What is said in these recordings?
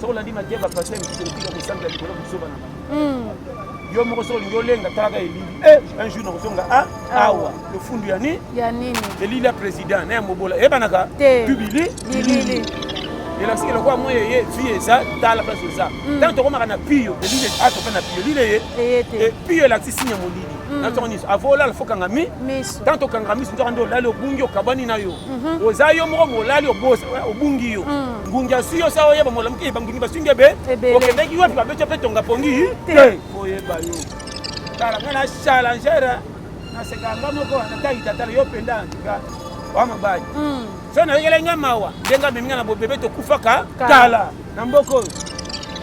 soki olandi mateya bapasteur mosusu otika kosambela likolo kozoba na bango yo moko soki olingi olenga talaka elili eh, un jour nakozonga ah, ah. awa lofundu ya nini ya nini elili ya président na ya mobola eyebanaka tubili bilili elakisi ke lokola moi eye vie eza tala place eza ntango tokomaka na pio elili ato mpe na pio elili eye pio elakisi signe ya molili na ntongo nyonso avo olala fo kanga mi tanto okanga miso nzoka nde olali obungi okabani na yo mhm. oza yo moko molali obungi yo mm. ngungi asui yo sa oyeba molamuki eh, bangungi basungi ebe okendeki wapi babeti mpe tonga pongi te oyeba yo tala nga na challenger naseka nga moko nataitatala yo mpenza antika wa mobali mm. so nayokela nga mawa ndenge amemi nga na bobebe tokufaka kala na mboka oyo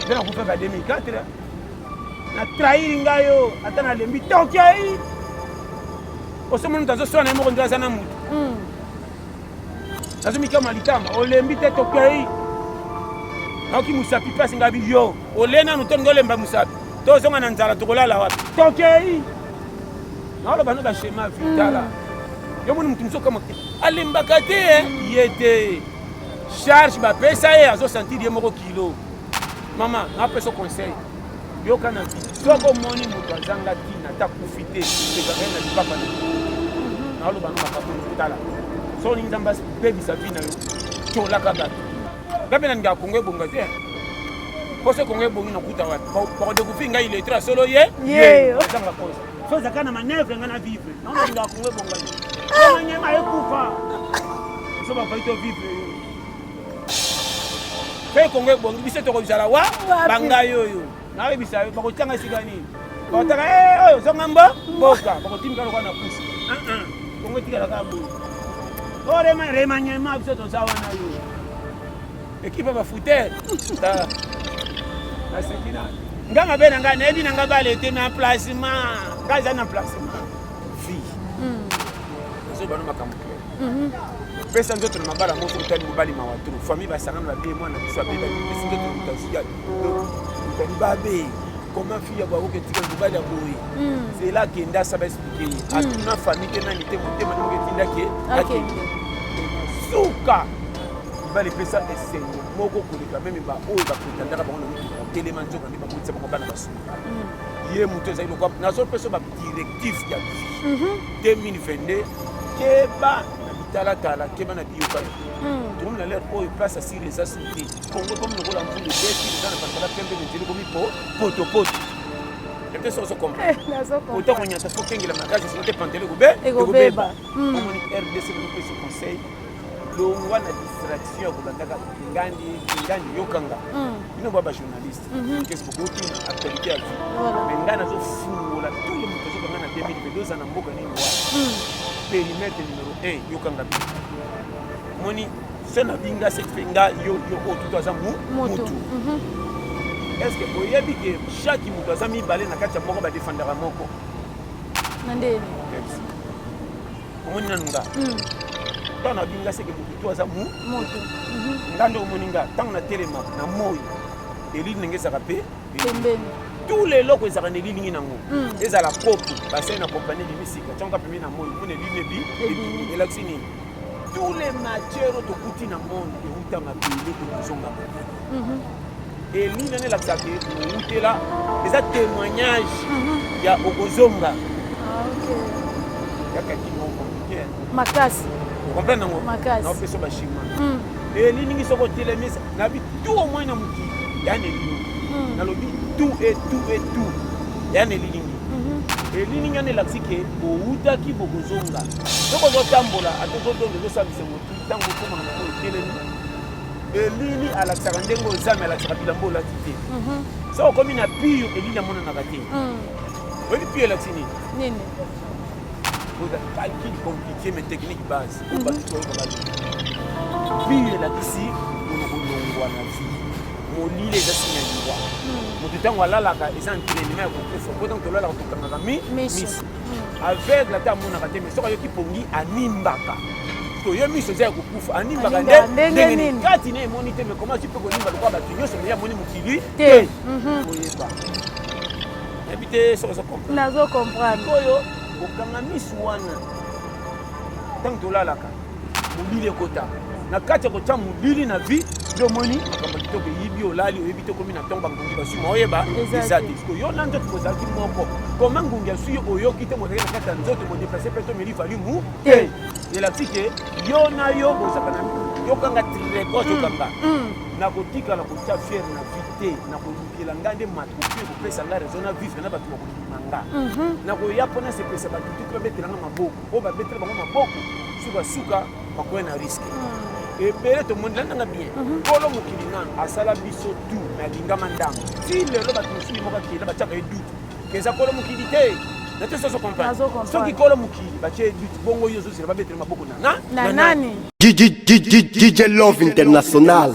mpe nakufaka 2004 na trahir ngai yo ata nalembi tokei osomoni moto azoswana na ye moko nde aza na moto hmm. nazomikama litama olembi te tokei naoki mosapi mpasi ngai biyo ole nanu to ngolemba mosapi tozonga na nzala tokolala wapi tokei naoloba no bashema vitala hmm. yo moni moto mosusu okama alembaka te eh? ye te charge bapesa ye azosentir ye moko kilo mama napesa conseil yoka na vie soki omoni moto azanga ntina ata kufi te ekaka na lipapa na naoloba na makambo tala soki olingi nzambe abebisa vi na yo tolaka bato nga mpe nalingaka kongo ebonga te mpo soki kongo ebongi nakuta wapi bakodekouvrir ngai letre ya solo ye azanga kosa so ezaka na manevre ngai na vivre nango nalingaka kongo ebonga te omanyema ekufa so bafai to vivre soki kongo ebongi biso tokozala wa bangai oyo nayebisa yo bakotyanga esika nini bakotaka eh, oyo zonga mbo mboka bakotimika lokola na pusi ah, ah. kongo etikala kaka boye orema remaniema biso toza wana yo ekipe bafutere naseki na nga mabe na ngai nayebi na ngai bale te na placement ngai eza na placement vie hmm. nazoyebano makambo Mhm. pesa nzoto na mabala moko otali mobali mawa tro famille basangana babe mwana biso abebaki pesi nzoto na mutaziyaki otali babe koma fille ya bwakoki etika mobali ya boye mhm. zela akenda asa baexplike ye mhm. atuna famille te nani te motema ndenge etindaki akende suka mibali epesa esengo moko koleka meme baoyo bakotandaka bango na mituka telema nzoka nde bakotisa bango bana basuna ye moto ezali lokwa nazopesa directif ya vie 2022 keba na bitalatala keba na biyokani hmm. tokomi na lere oyo place ya siri eza suri te kongo ekomi lokola mvulu ebeti eza na balabala pembe na nzela ekomi po potopoto ete soki ozokomprendre konyata soki okengela makasi soki te pantele ekobe ekobeba hmm. omoni rdc kopesa conseil longwa na distraction ya kolandaka ngandi ngandi yokanga hmm. bino bwa bajournaliste Mhm. kesi bokoti na actualité ya vie mais ngai nazofungola tout le moto azokanga na 2022 oza na mboka nini wana mhm. perimetre numero 1 yokanga bi moni se na binga se mpe nga yo yo oyo tutu aza mutu mhm. est ce que oyebi ke chaque moto aza mibale na kati ya moko badefandaka moko na ndeni omoni nanu nga ntango na binga seke moto to aza mutu nga nde omoni nga ntango natelema na moi elili ndenge ezalaka mpe pembeni tout leloko ezalaka na elilingi nango hmm. ezala kopi basali na kompani ebimi sika ntango kapemi na moi mpo na elili ebi elakisi nini tous les matières oyo tokuti na monde euta mabele tokozonga mabele mhm. elili nani elakisaka outela eza témoignage mhm. ya okozonga ah, yaka kimoko makasi okomprendre yango makasi naopesa bachinois hmm. elilingi soki otelemisa nabi tu au moins na mokili ya na elilingi hmm. nalobi tu e tu e tu ya na elilingi mhm. elilingi wana elakisi ke bowutaki bokozonga soki ozotambola ata ozodonda ezosambisa motu ntango okoma na moko etelemi elili alakisaka ndenge oyo zame alakisaka bilambo olati te mhm. soki okomi na pire elili amonanaka te hmm. oyebi pire elakisi nini oza calcul compliqué mais technique base biyo elakisi kolongwa na vi molili eza sinya liwa moto ntango alalaka eza entraînement ya kokufa po ntango tolalaka tokangaka mi miso hmm. aveugle ata amonaka te mais soki ayoki pongi animbaka toye miso eza ya kokufa animbaka nde ndenge nini kati na emoni te mais koma azi mpe konimba lokola bato nyonso meye amoni mokili te mhm. koyeba yebi te soki ozo comprendre nazo comprendre oyo kokanga miso wana ntango tolalaka molili ekota na kati ya kotya molili na vie nde omoni makambo ya kitoko eyibi olali oyebi te okomi na ntongo bangungi basuma oyeba eza te siko yo na nzoto kozalaki moko koma ngungi asui oyoki te mozalaki na kati ya nzoto bodeplase mpe tomeli valimu te elakisi te yo na yo bozaka na yokanga treko tokanga mm, mm. nakotikala kotya fiere na vie te nakolukela ngai nde makoki ekopesa ngai raison na vivre na bato bakoli na nga mhm. nakoya mpo nasepelisa bato te mpe babetela nga maboko oyo babetela bango maboko sukasuka bakoya na riske mhm. ebele tomondela nanga bien mhm. kolo mokili nano asala biso tu na lingama ndambo ti lelo bato mosusu moko akela batiaka ye dutu keza kolo mokili te nate soso comprendre soki kolo mokili batie ye dutu bongo yo ozozela babetela maboko na na nani DJ Love International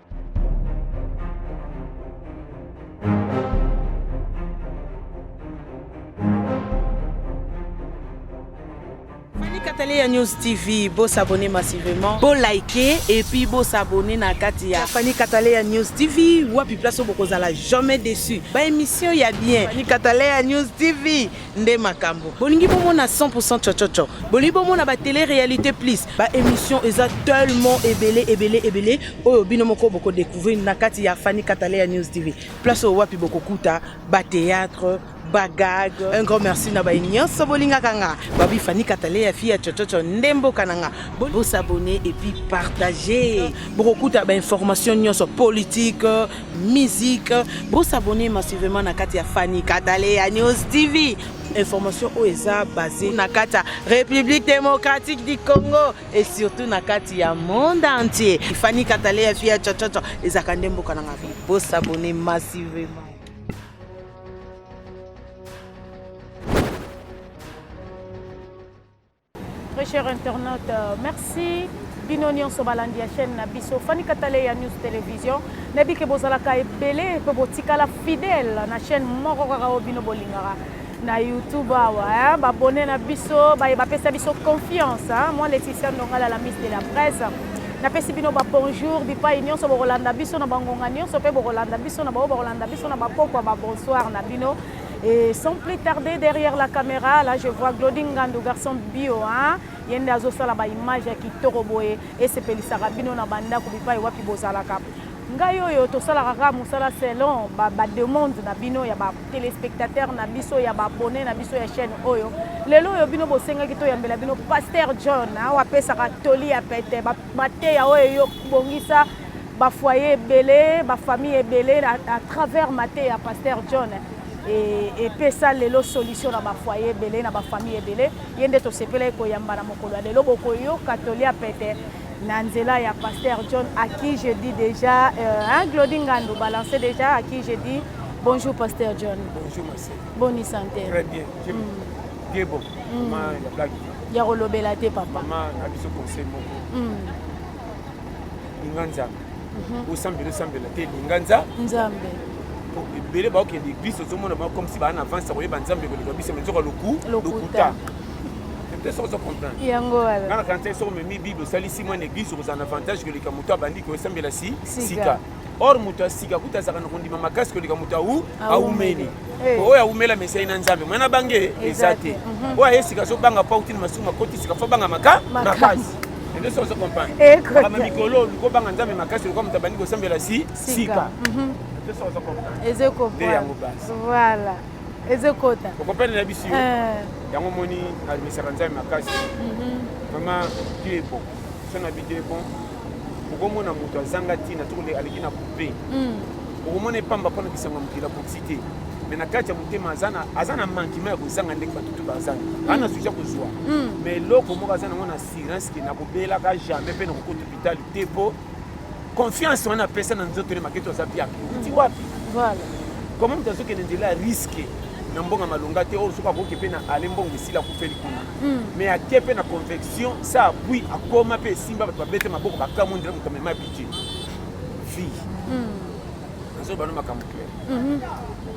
ya News TV, beau s'abonner massivement, beau liker et puis beau s'abonner na Katia. Fanny Katalea News TV, wapi place au bokozala jamais déçu. Ba émission ya bien. Fanny Katalea News TV, nde makambo bolingi bomona 100% chochocho bolingi bomona ba télé réalité plus ba émission eza tellement ebele ebele ebele oyo bino moko boko découvrir na kati ya Fanny Katalea News TV place oyo wapi bokokuta ba théâtre bagag un grand merci na baye nyonso bolingaka nga babi Fanny Katalea fille ya chochocho nde mboka na nga bosabone et puis partager bokokuta ba information nyonso politique musique bo s'abonner massivement na kati ya Fanny Katale ya News TV information oyo eza basée na kati ya République démocratique du Congo et surtout na kati ya monde entier Fanny Katale ya fille ya chachacha ezaka nde mboka na nga bo s'abonner massivement Très cher internaute, merci bino nyonso balandi ya chaîne na biso Fani Katale ya News Television nayebi ke bozalaka ebele mpe botikala fidèle na chaîne moko kaka oyo bino bolingaka na YouTube awa babone na biso baye bapesa biso confiance moi Laetitia Ndongala la Miss de la Presse napesi bino babonjour bipai nyonso bokolanda biso na bangonga nyonso mpe bokolanda biso na baoyo bakolanda biso na bapokwa babonsoir na bino Et sans plus tarder, derrière la caméra, là je vois Glody Ngandu, garçon bio, hein ye nde azosala baimage ya kitoko boye esepelisaka bino na bandako bipai wapi bozalaka ngai oyo tosalaka kaka mosala selon bademande ba na bino ya batelespectateur na biso ya baabone na biso ya chaîne oyo lelo oyo bino bosengaki toyambela bino paster john awa apesaka toli ya pete mateya oyo eyobongisa bafoye ebele bafamille ebele à travers mateya pasteur john epesa lelo solution na bafoye ebele na bafamille ebele ye nde tosepelaki koyamba na mokolo ya lelo bokoyoka tolia pete na nzela ya pasteur john à qui je dis déjà euh, hein, glodi ngandu balance déjà à qui je dis bonjour pasteur john bonjour ma bonne santé très bien mm. te bon hmm. ma ya blague ya kolobela te papa ma na biso conseil moko hmm. linga nzambe mhm. osambela osambela te linga nzambe ebele baokende eglise ozomona bango comme si baa na avance ya koyeba nzambe koleka biso me nzoka loku lokuta te soki ozocomprendre yango wana nga na kanisa soki omemi bible osalisi mwana eglise okozala na avantage koleka moto abandi koesambela si sika or moto ya sika kuta azalaka na kondima makasi koleka moto au aumeli eh. oyo aumela mesai na nzambe mwana na bange eza te mhm. oyo aye sika azobanga mpo auti na masumu makoti sika fo banga maka makasi ende soki ozokomprendre eh, ama mikolo oluki obanga nzambe makasi lokola moto abandi kosambela si sika mhm. nde yango basi voilà ezokota okopene na biso eh. yango omoni nalobisaka nzambe makasi mhm. vraiment dieu ebon so na bi dieu ebon okomona moto azanga ntina to aleki na coupe hmm. okomona epamba mpona bisango ya mokili akoki te me na kati ya motema aza na mankima ya kozanga ndenge bato to bazanga hmm. ana suja kozwa hmm. me eloko moko aza nango na assurance ke nakobelaka jamais mpe nakokota hopitali te mpo confiance wana apesa na nzoto ne maketo aza biake uti wapi koma moto azokende nzela ya riske na mbongo ya malonga te oyo soki akoki mpe na ale mbongo esila kufeli kuna hmm. mais ake mpe na convection sa apui akoma mpe esimba bato babete maboko bakamwe ndela moto amema bije vie hmm. nazoloba no makambo claire mhm.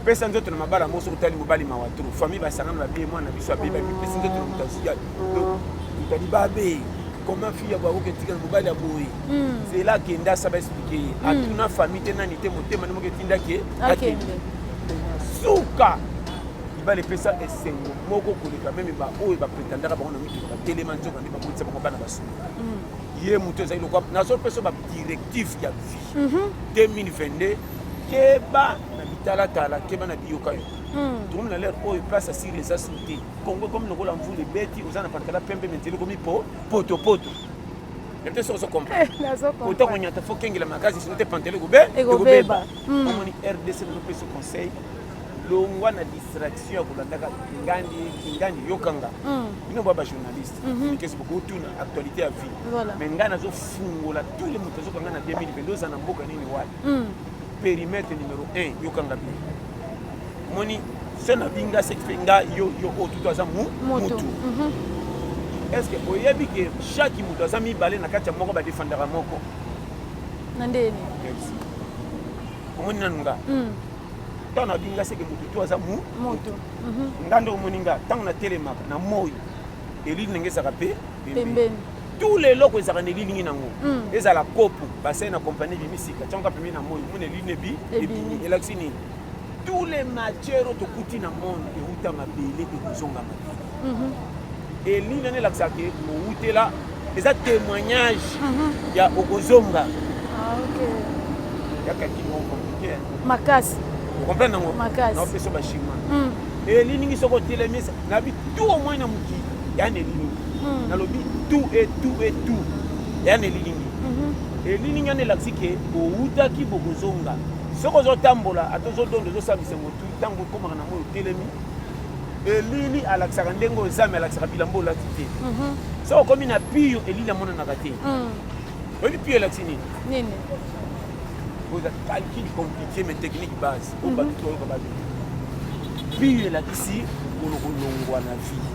pesa nzoto na mabala moso kotali mobali mawa tro famille basangana babie mwana biso abeba mipesi nzoto na moto azia motali babe comment fille ya bakoki etikala mobali ya boye hmm. zela akende asaba explike ye hmm. atuna famille te nani te motema nde moko etindaki akende suka libala epesa esengo moko koleka meme baoyo bapretendaka bango na mituka batelema nzoka nde babotisa bango bana basolo mm. ye moto ezali lokwa nazopesa badirective ya vie 2022 mhm. keba na bitalatala keba na biyokayoka mm. tokomi na lere oyo place asili eza su te kongo ekomi lokola mvula ebeti oza na patikala pembe menzeli ekomi po potopoto te soki ozokomprendre konyata fo kengela makasi sino te pantele ekobeba omoni rdc nazopesa conseil longwa na distraction ya kolandaka kingandi kingandi yokanga mm. bino ba bajournaliste mhm. mikesi bokotuna actualité ya vie mais ngai nazofungola tout le moto azokanga na 2022 oza na mboka nini wapi mm. périmètre numéro 1 yokanga bino moni se nabinga sekife nga yo yo oyo tutu aza mutu mhm. est ce que oyebi ke chaque moto aza mibale na kati ya moko badefandaka moko na ndeni omoni nanu nga mm. ntango nayoki nga seke motu tu aza mu motu mhm. nga nde omoni nga ntango natelemaka na moi elili ndenge ezaka mpe pembeni tout le eloko ezalaka na elilingi nango mm. ezala kopo basali na kompani ebimi sika ntango kapemi na moi omoni elili nebi ebimi elakisi nini tous les matières oyo tokuti na monde euta mabele ekozonga mabele mhm. Elingi nani elakisa ke owutela eza témoignage mhm. ya okozonga ah, yaka kimo compliqué makasi okomprendre yango naopesa bashima hmm. elilingi soki otelemisa nabi tu omoi na mokili ya na elilingi hmm. nalobi tu e tu e tu ya na elilingi mhm. elilingi yana elakisi ke owutaki bokozonga soki ozotambola ata ozodondo ozosala bisengo tu ntango okomaka na moi otelemi elili alakisaka ndenge oyo zame alakisaka bilamba olati te mhm. so okomi na pio elili amonanaka te mm. oyebi pio elakisi nini oza calcul compliqué mais technique base oyo mhm. bato toyoka bato pio elakisi mokolo kolongwa na vie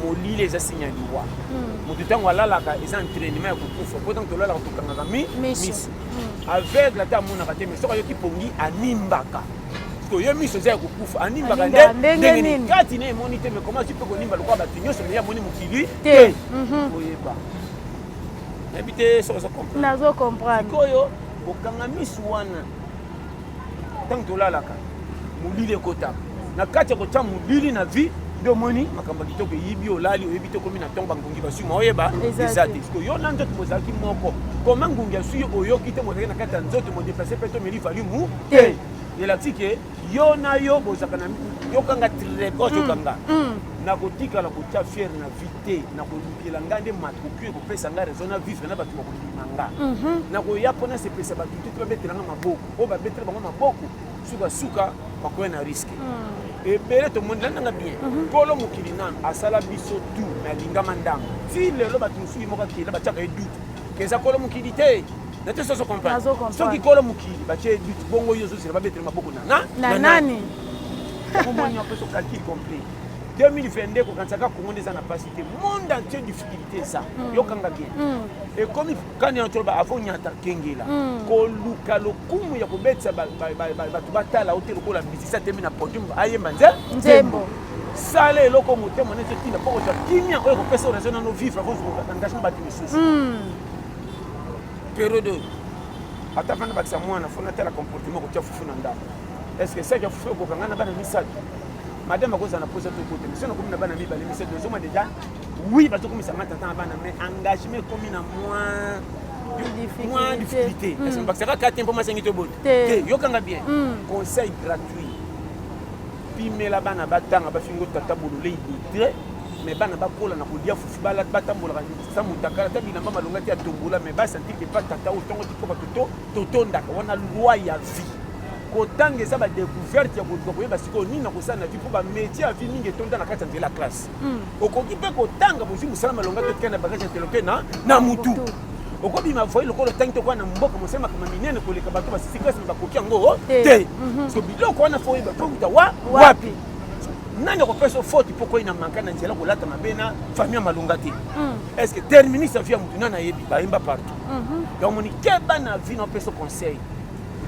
molili eza sinya liwa mm. moto ntango alalaka eza entrainement ya kokufa mpo ntango tolalaka tokangaka miso mm. aveugle ata amonaka te mais soki ayoki pongi animbaka to yo miso eza ya kokufa animbaka nde ndenge nini kati na emoni te mais comment tu peux konimba lokola bato nyonso meya amoni mokili te mhm. oyeba nayebi te soki nazo comprendre sikoyo kokanga miso wana ntango tolalaka molili ekotaka na kati ya kotya molili na vie nde omoni makambo ya kitoko eyibi olali oyebi te okomi na ntongo bangungi basui ma oyeba eza te siko yo na nzoto bozalaki moko koma ngungi asui oyoki te mozalaki na kati ya nzoto modeplace mpe tomeli valimu te elakisi ke yo na yo bozalaka na yokanga trigos yokanga mm, mm. nakotikala kotya fiere na vie te nakolukela ngai nde makoki ekopesa ngai raison na vivre na bato bakondima nga mhm. nakoya mpo nasepelisa bato te babetela nga maboko oyo babetela bango maboko sukasuka bakoya na riske mm. ebele tomonela nanga bien mhm. kolo mokili nano asala biso tu na lingama ndambo ti lelo bato mosusu moko akela batyaka ye dute keza kolo mokili te nate soso comprendre soki kolo mokili batie but bongo yo ozozela babetele maboko nana na nani omoni apesi okalkile complet 2022 kokanisaka kongo nde eza na mpasi te monde entier difficulté eza mm. yokanga bien mm. ekomi kani yango toloba avo nyata kengela mm. koluka lokumu ya kobetisa bato batala ote lokola misisa temi na podium ayemba nze nzembo sala eloko motema neti etinda mpo kozwa kimia oyo ekopesa oraison nano vivre kozwa engagement bato mosusu perodo ata vana bakisa mwana fo natala comportement kotia fufu na ndako est ce que saki ya fufu ekoka ngai na bana misato madame akozala na posa tokote miso nakomi na bana mibale misato nazoma deja oui bazokomisa ngai tata na bana mais engagement ekomi na moins mwa difficulté hmm. bakisaka karte mpo masengi to boni te yokanga bien hmm. conseil gratuit pimela bana batanga bafingo tata bololei detre mais bana bakola na kolia fufu batambolaka sa motakala ata bilamba malonga te ya tombola mais basentir ke pa tata oyo ntongo tikoba toto totondaka wana loi ya vie kotanga eza badecouverte ya koluka koyeba sikoyo nini nakosala na vie mpo bamétier ya vie mingi etonda na kati ya nzela ya classe hmm. okoki mpe kotanga bozwi mosala malonga totika na bagage intellectuel na na motu okobima voye lokola otangi tokoa na mboka mosala makambo minene koleka bato basisi klasi me bakoki yango te hmm. so biloko wana fo oyeba mpo kuta wa wapi nani akopesa faute mpo koi na manka na nzela kolata mabe na famille ya malonga te hmm. est ce que terminus ya vie ya motu nani ayebi bayemba partout mhm. donc omoni keba na vie na opesa conseil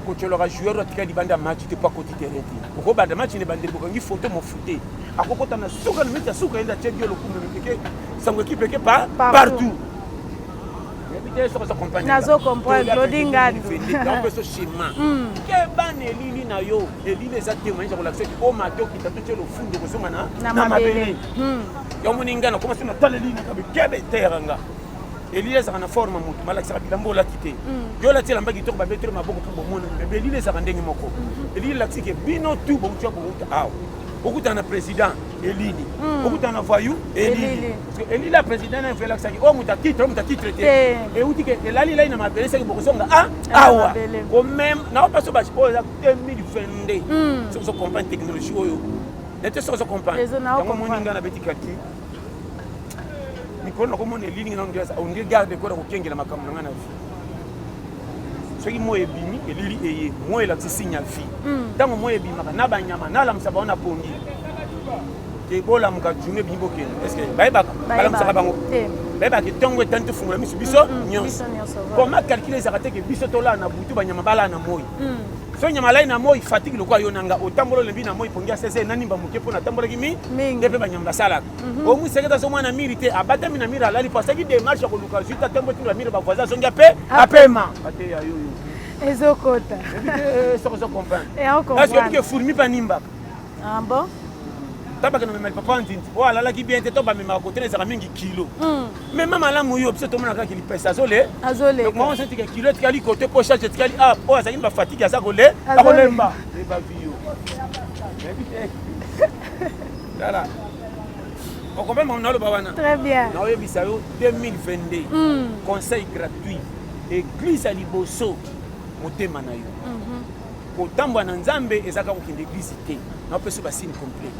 kotyolaka joueur atika libanda ya match te mpo akoti terrain te okobanda match na ebandeli bokangi foto mofute akokota na suka na meti ya suka yende atye dio lokumu mipeke sango ekipe eke pa partout nazo comprendre lodingadu keba na elili na yo elili eza temoignage ya kolakisa ki omata okita to tie lofundo kozonga na na mabele hmm. ya omoni ngai nakoma so nataleli naka bikebe eteyaka nga elili ezalaka na forme motu malakisaka bilamba olati te hmm. yo olati elamba kitoko babeteli maboko mpo bomonani me belili ezalaka ndenge moko hmm. elili elakisi ke bino tu bouti ya bouta awa okutana na président elili hmm. okutana na voyou elili elili ya président nayo elakisaki oyo oh, moto atitre oyo moto atitre te euti ke elali elai na mabele seki bokosonga a ah, awa komeme nao paso basi oyo 2022 hmm. soki ozo comprendre technologie oyo nete soki ozo comprendre yango omoni ngai nabeti kalki mikolo nakomona elilingi nano ondie garde kona kokengela makambo na ngai na vie soki moi ebimi elili eye moi elakisi signe ya vie hmm. ntango moi ebimaka na banyama nalamusa bango na pongi te bolamuka june ebimi bokende parceke bayebaka balamusaka bango bayebaka ntongo etani tofungola miso biso hmm, hmm, nyonso koma calcule ezalaka te ke biso tolala na butu banyama balala na moi fenya malai na moi fatigue lokola yo nanga otambola olembi na moi pongi ya sese na nimba moke mpo natambolaki mi nde mpe banyama basalaka mhm. omwisaketa so mwana miri te abatami na miri alali mpo asaki demarche ya koluka zwi tatembo tula miri bavoisin azongi ape ah. apema ateya yo ezokota eh, soko ozo comprendre eh, eske obike fourmi mpe animbaka ah, bon tabakena memeli papa nzinzi oyo alalaki bien te to bamemaka kotelezaka mingi kilo hmm. Mais mama lamu yo biso tomona kaka kilipesa azole azole donc maman senti que kilo etikali côté po charge etikali ah po azali ba fatigue aza kole akolemba et ba vie yo tala okombe mama naloba wana très bien na oyebisa yo 2022 hmm. conseil gratuit église ya liboso motema na yo kotambola na nzambe eza kaka kokende eglize te napesi basine complet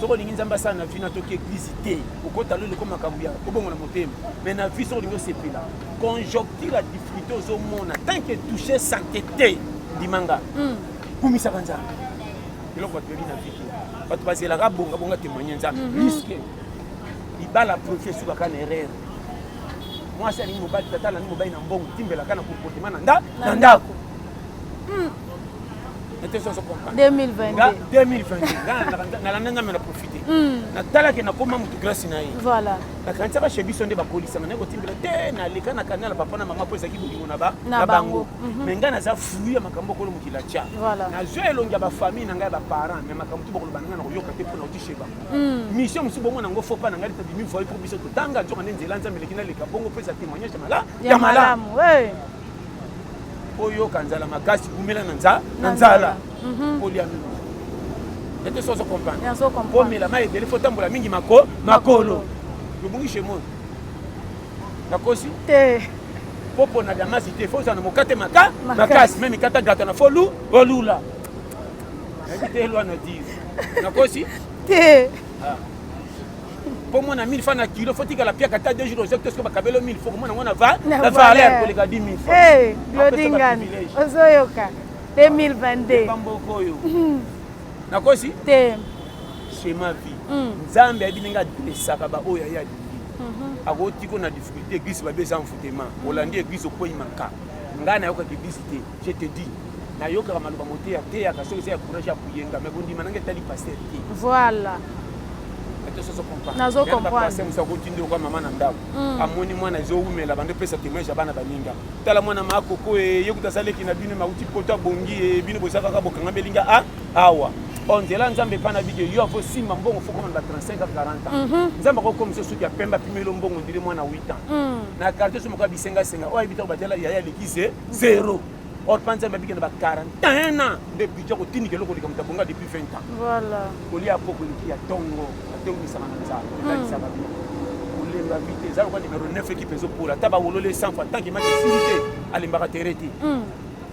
soki olingi nzambe asala na vie natoki eglize te okota lelo ko makambo ya kobongo na motema mais na vie soki olingi osepela conjoncture ya difficulté ozomona tant que touche sante te ndimanga hmm. kumisaka nzambe eloko bato yebi na vie te bato bazelaka bongabonga témoigne nzambe mhm. riske libala profi esukaka na erreur mwasi alingi mobali tata alandi mobali na mbongo timbelaka na komportema na ndako Hmm. 2022 nalanda nzambe na profite hmm. natalaki nakoma motu grâce na ye nakanisaka chez biso nde bakolisanga naye kotimbela te naleka na kanala papa na mama mpo ezalaki bolingo na bango mhm. me ngai naza flui ya makambo okolo mokili atya nazwa elongi ya bafamille na ngai ya baparent me makambo tu bakoloba na ngai nakoyoka te mpo nauti chez bango hmm. mission mosusu bongo nango fo pa na ngai litabimi voye mpo biso totanga nzoka nde nzela nzambe eleki naleka bongo mpo eza témoignage ya malamu oyoka nzala makasi kumela na nza na nzala mhm. kolia mingi ete soso comprendre komela mai ebele fo tambola mingi mako makolo lobungi chez moi nakosi te mpo mpona damasi te fo ozala na mokate maka makasi me mikata gata na fo lu olula nayebi te elwa na dire nakosi te ah. po mwana 1000 fa na kilo fo tikala piaka ata deux jours ozaki tosoki bakabelo 1000 fo komona ngo na valeur koleka 10 000 eh, lodingani ozoyoka 2022 bamboko oyo hmm. nakosi te chez ma vie hmm. nzambe ayebi ndenge adresaka baoyo aye alingi mhm. akotiko na difficulté eglise babe eza enfoutema olandi eglise okwei maka ngai nayokaka eglise te Je te dis nayokaka maloba mote ya teyaka soki eza ya courage ya koyenga me bondima nanga etali paster te voilà nazo comprendre musa ko tindi okwa mama na ndako hmm. amoni mwana ezo wumela bande pesa témoignage ya bana baninga tala mwana ma koko e yekuta saleki na bino mauti poto abongi e bino boza kaka bokanga belinga a ah, awa o oh, nzela nzambe epa na bide yo avo simba mbongo fo komanda 35 a 40 ans mhm. nzambe akokomisa soki ya pembe apimelo mbongo ndiri mwana 8 ans hmm. na quartier so moko ya bisengasenga oyo ayebitako batela yaya aleki ze zero or mpa nzambe abiki na ba 41 ans nde budget kotindika eloko likambo tabonga depuis 20 ans voilà kolia koko eliki ya tongo atongisaka na nzala ebalisaka hmm. bino kolemba vite eza lokola numero 9 ekipe ezopola ata bawololi esanfo atanke maki esili te alembaka tere te hmm.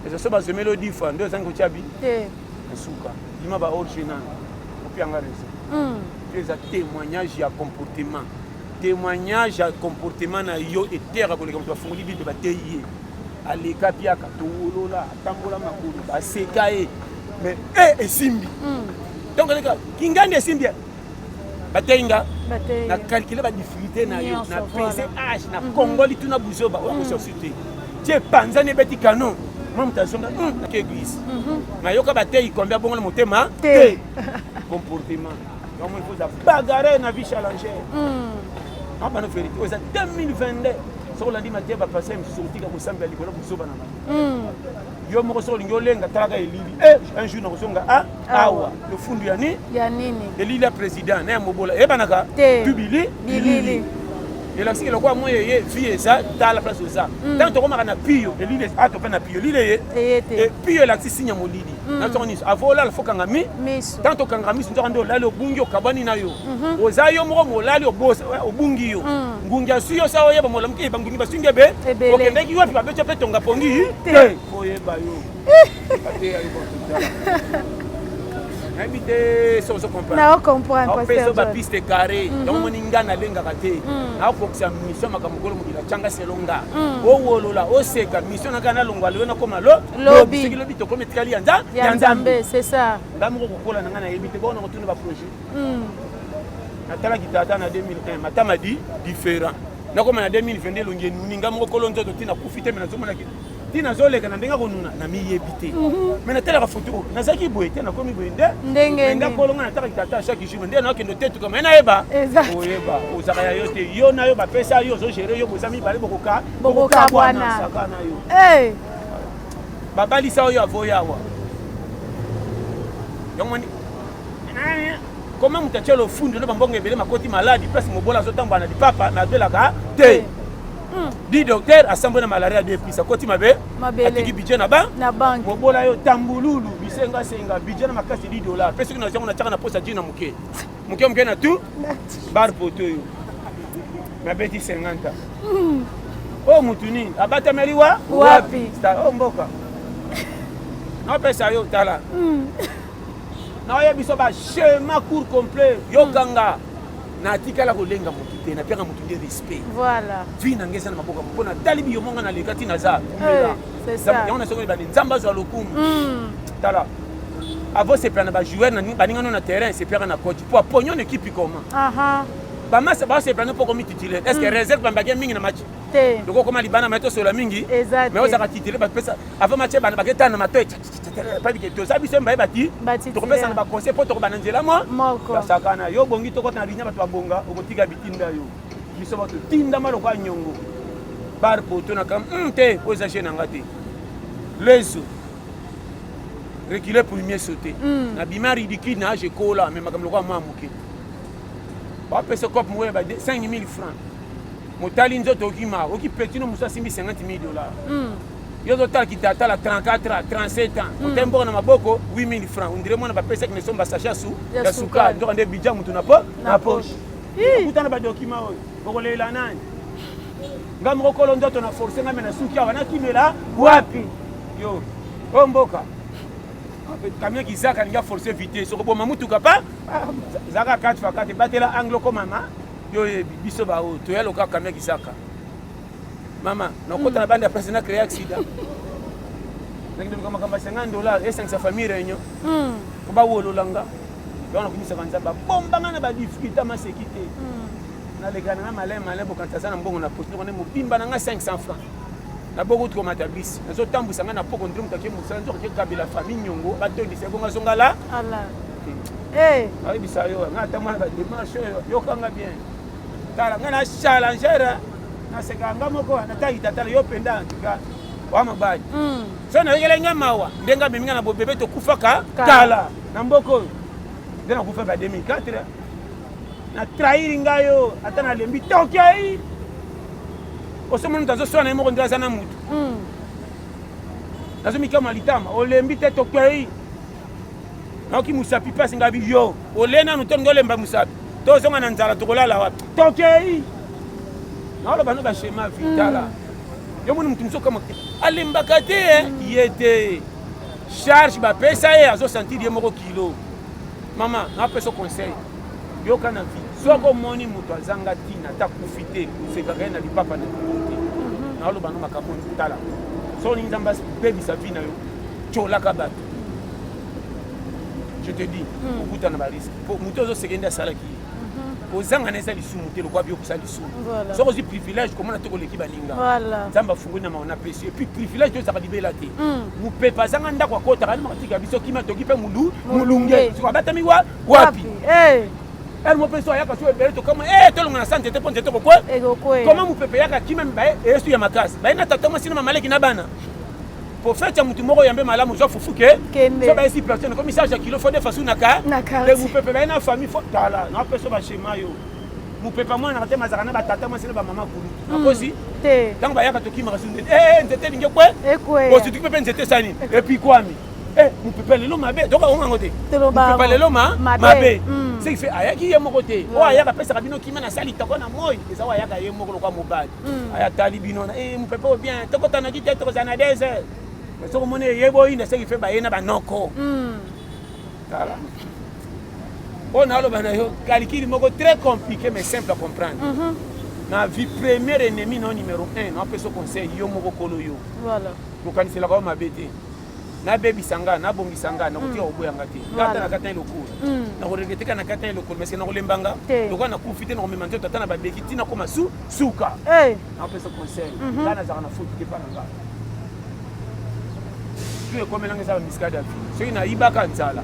eza so bazomeli odifa nde ozangi kotya bi na suka bima ba orge nano opianga reseau mpe hmm. eza témoignage ya comportement Temoignage ya comportement na yo eteyaka koleka moto afungoli bible bateyi ye aleka piaka towolola atambola makolo baseka ye mais e eh, esimbi hmm. donc aleka kingandi esimbi bateyi nga na calcule badifficulté na yo na pese age na hmm. kongoli tuna buzoba oyo akosursu hmm. te ti epanzani ebeti canon mwa moto azonga ke eglise nayoka bateyi kombe abongola motema te comportement yango il faut bagarre na vie challenger hmm. abana ah, verité oza 2022 soki olandi mateya bapasai mosusu okotika kosambela likolo kozoba na bango hmm. yo moko soki olingi olenga talaka elili eh, un jour nakozonga ah, ah, awa lofundu ya nini ya nini elili ya président na ya mobola eyebanaka tubili bilili elakisi ke lokola moi eye vie eza tala place oza ntango hmm. tokomaka na piyo elili ato mpe na piyo elili eye piyo elakisi sinya molili Mm. na ntongo nyonso avo olala fo kanga mi tanto okanga miso nzoka nde olali obungi okabwani na yo mhm. oza yo moko molali eh, obungi yo mm. ngungi asui yo sa oyeba molamuki eh, bangungi basui nde ebe okendeki wapi babeti mpe tonga pongi te oyeba yo nayebi te so ozo comprendreopeso bapiste carré mhm. yango moni nga nalengaka te mhm. nakokisa mission makambo kolo mokili atyanga selo nga owolola oseka mission na ngai nalongwa lelo nakoma lo lobi soki lobi tokomi etikali ya nzambe ya nzambe c'est ça nga moko kokola na nga nayebi te bongo nakotuna ba projet hmm. natalaki tata na 2001 matama di différent nakoma na 2022 elongi enuni nga moko kolo nzoto ti nakufi te me nazomonaki ti nazoleka na ndenge akonuna namiyebi te mhm. me natalaka foto oyo nazalaki boye te nakomi boye nde ndenge nga kolo nga natalaki tata chaque jour nde nakende otetuka me nayeba oyeba ozaka ya yo te yo na yo bapesa yo ozogere yo boza mibale bokoka bokokabwana saka na yo eh! babalisa oyo avoya awa yongoni koma moto atya lofundu na bambongo ebele makoti maladi place mobola azotambola na lipapa me abelaka te hmm. di docteur asambwe na malaria de plus akoti mabe atiki budget na bank na bank mobola yo tambululu bisenga senga budget na makasi 10 dollars pe soki na jango na tiaka na posa jina moke moke moke na tu bar poto oyo nabeti 50 oyo motu nini abatameli wa wapi oyo mboka napesa yo tala hmm. naoye biso bachema cour complet yokanga hmm. natikala kolenga motu te napiaka motu nde respect vi na ngai eza na maboko mpo natali biyomonga nalekati naza yango na soki ebandi nzambe azwa lokumu hmm. tala avant sepela na bajoueur baninga no na terrain sepiaka na coach po aponyo na ekipe koma bamasa basepela no po okomi titulaire est ce que hmm. réserve bambaki mingi na match loko okoma libana mai tosola mingi mai ozaka titulaire bapesa avant match bana baketana na matoi pabike toza biso mbaye bati tokopesa na baconseil po tokobana nzela mo basakana yo obongi tokota na linia bato babonga okotika bitinda yo biso bato tindama lokola nyongo bar poto na kam mm, te oyo eza jeu na nga te lezo recule premier sauté mm. na bima ridicule na age ekola me makambo lokola mwa moke bapesa cope moko ya ba 5000 francs motali nzoto okima okipetino mosu asimbi 50 000 dollar mm. yo ozotala kitatala 34 ans 37 ans mm. otali mboka na maboko 8000 francs ondire mwana bapesaki na esomba sacha su ya sukali nzoka nde bidja motu na po na poche kuta na badokima oyo bokolela nani nga moko kolo ndoto na force nga me na suki awa nakimela wapi yo oyo mboka kamia kizaka alingi aforce vitesse okoboma motuka pa ah, zaka kati fakati batela anglo komama yo oyebi biso baoyo toya loka kamia kizaka Mama, nakota na banda ya place na créer accident. Nakende luka makambo ya 50 dollars esangisa famille réunion. Hmm. Ko bawolola nga. Donc nakumisaka nzambe abomba nga na badifficulté maseki te. Hmm. Naleka na nga malin malin bokanta aza na mbongo na posi noko nde mobimba na nga 500 francs. naboko uti komata bisi nazotambwisa ngai na poko nde moto ake mosala nzoka kekabela famille nyongo batondisa ebongo azongala ayebisa yo ngai ata mwana bademarche oyo yokanga bien tala nga na challenger na seka nga moko na tangi tata yo penda en tout cas wa mobali hmm. so na yekela nga mawa ndenge amemi nga na bobebe tokufaka kala na mboka oyo nde nakufaka 2004 na trahir nga yo ata nalembi tokei osomoni moto azoswana ye moko nde aza na motu hmm. nazomikama litama olembi te tokei naoki musapi pasi nga bi yo ole nanu to ngolemba musapi tozonga na nzala tokolala wapi tokei naoloba no bashema vitala mm. yo moni motu mosusu kama alembaka te eh? mm. ye te charge bapesa ye azosentir ye moko kilo mama napesa conseil yoka na vie soki omoni moto azanga ntina ata kufi te osekaka ye na lipapa na likolo te mhm. naoloba no makambo tala soki olingi nzambe abebisa vi na yo colaka bato je te dis hmm. okuta na bariske po moto ozo seke nde asalaki ye mhm. kozanga na eza lisumu te lokola biyokusa lisumu soki ozwi privilège komona te koleki baninga nzambe afungoli na maona pesi epuis privilège to ezaka libela te mopepe hmm. azanga ndako akotaka ni makatika biso kima toki mpe mulu molunge soko abatami wa wapi eh. ere mopepe so ayaka so ebele tokama e tolonga na sante te mpo nzete kokwe koma mopepe yaka kima mibaye eyesu ya makasi baye na tata mwasi na mamaleki na bana Prophète ya mutu moko yambe malamu zwa fufu ke so ba esi personne comme ça ya kilo faut des façons naka de vous pepe ba na famille faut tala na peso ba schéma yo mu pepe moi na te mazaka na ba tata moi c'est ba maman kulu hmm. akosi te tango ba yaka to kima kasu ndete eh ndete linge kwe ekwe bo tutu pepe ndete sani et puis kwami eh mu pepe lelo mabe donc on ngote mu pepe lelo ma mabe hmm. c'est fait ayaki ye moko te o ayaka pesa kabino kima na sali toko na moi eza wa yaka ye moko lokwa mobali hmm. aya tali bino na eh mupepe o bien toko tana ki tete kozana des mais soko mone yebo ina seki fe baye na banoko hmm. tala on a loba na yo calcul moko très compliqué mais simple à comprendre mhm. na vie premier ennemi no numéro 1 na peso conseil yo moko kolo yo voilà bokanisela ko mabe te nabebisa nga nabongisa nga nakotika mm. koboya nga te ngata na kata eloko mm. nakoregeteka na kata eloko mese nakolemba nga lokola nakufi te nakomema nzoto ata na babeki ntina koma su suka eh. nakopesa conseil mhm. nga nazalaka na foti te mpa na nga tu ekomelanga eza bamiskade ya vie soki nayibaka nzala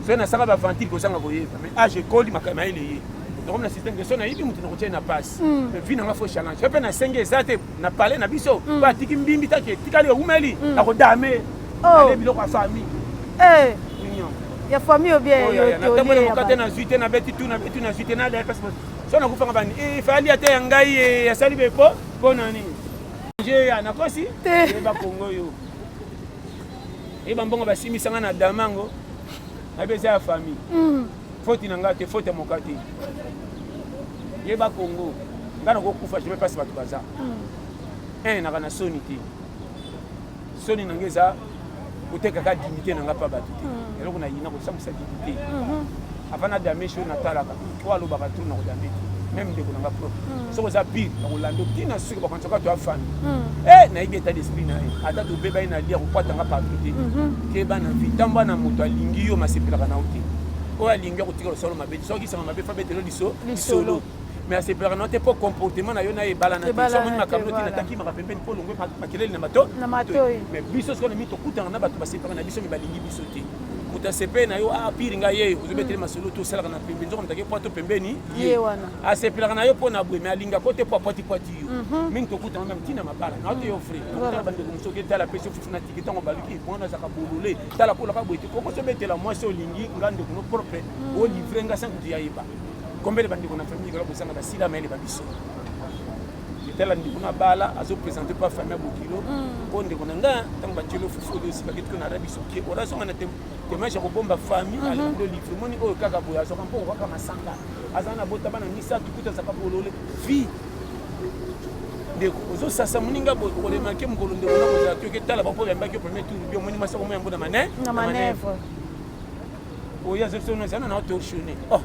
soki nasaka baventile kozanga koyeba mais age ah, ekoli mayele ye nakomi na système ke soki nayibi moto nakotia ye na pasi mm. mais vie nanga fo challenge yo mpe nasengi eza te na palais na biso mm. oyo atiki mbimbi taki etikali eumeli mm. na kodame oh. ale biloko ya famille eh. ya famille obienatamboli moka te nazwi te nabeti tu nabeti tu nazwi te nalea pasi so nakufanga bani eh, fali ata ya ngai eh, asali bepo mpo na nini jeya nakosi yeba kongo yo yeba mbongo basimisanga na damango nayebi eza ya famille mm. Faute na nga te, faute ya moka te. Yeba Congo, nga na kokufa jamais pasi bato baza. Hmm. Un naka na soni te. Soni na nga eza kotekaka dignité na nga pa bato te. Hmm. Eloko na yina kosambisa dignité. Hmm. Avant na dame show na talaka, oyo alobaka trop na kodame te. Même ndeko na nga propre. Soki oza pire, na kolanda tina ndeko bakonzoka to afandi hmm. eh, nayebi etat d'esprit na ye ata tobeba ye na lia kokwatanga partout te mhm. keba na vi ntango ana moto alingi yo masepelaka na yo te oyo alingi akotika losolo mabe soki sanga mabe fa betelo liso lisolo mais asepelaka na yo te mpo comportement na yo na ebala na te somoni makambo noti natakimaka pembeni mpo olongwe makelele na mato mais biso sikoyo na mi tokutana na bato basepelaka na biso mi balingi biso te moto asepeli na yo ah pire ngai ye ozobetele masolo to osalaka na pembeni nzoka motake pwa to pembeni ye wana asepelaka na yo mpo na boye me alingaka yo te mpo apwatipwati yo mhm. mingi tokutana na ntina mabala na ote yo fre tala bandeko mosusu oke tala pesi ofuti na tiki ntango baluki mwana azaka bolole tala kolaka boye te okosi obetela mwasi olingi nga ndeko no propre mhm. olivre nga sango ti yayeba kombele bandeko na famille kala bosanga basila mayele ba biso tala ndeko na bala azopresente mpo afamia bokilo mpo mhm. ndeko na nga ntango batielo fufu oyo osikaki tiko na arabi soki orazonga na te temage ya kobomba famille mhm. alando livre omoni oyo kaka boye azwaka mpo kaka masanga aza na bota bana misato kuta azaka bolole vie ndeko ozosasa moninga boye okolemake mokolo ndeko na kozala te oke tala bapo oyambaki yo premier tour bi omoni mwasi akomo yango na mane na manevre oyo azokisi ono ezana na otoshone oh,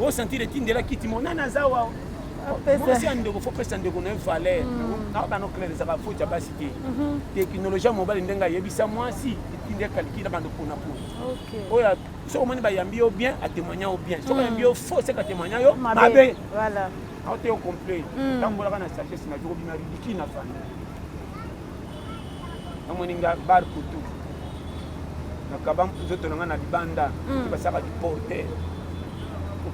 osentire etindela kiti mo nani aza wa mwasi ya ndeko fo pesa ndeko na ye valeur mm. na bana oklere ezaka foti ya basi te mhm. teknologie ya mobali ndenge ayebisa mwasi tindi ekaliki na bando pona pona oyo soki omoni bayambi yo bien atémoigna yo bien soki ayambi yo faux seke atémoigna yo mabe aote yo complet tambolaka na sagesse na yo obima ridiki na famille namoni nga bar kutu nakaba nzoto na nga na libanda basaka liporte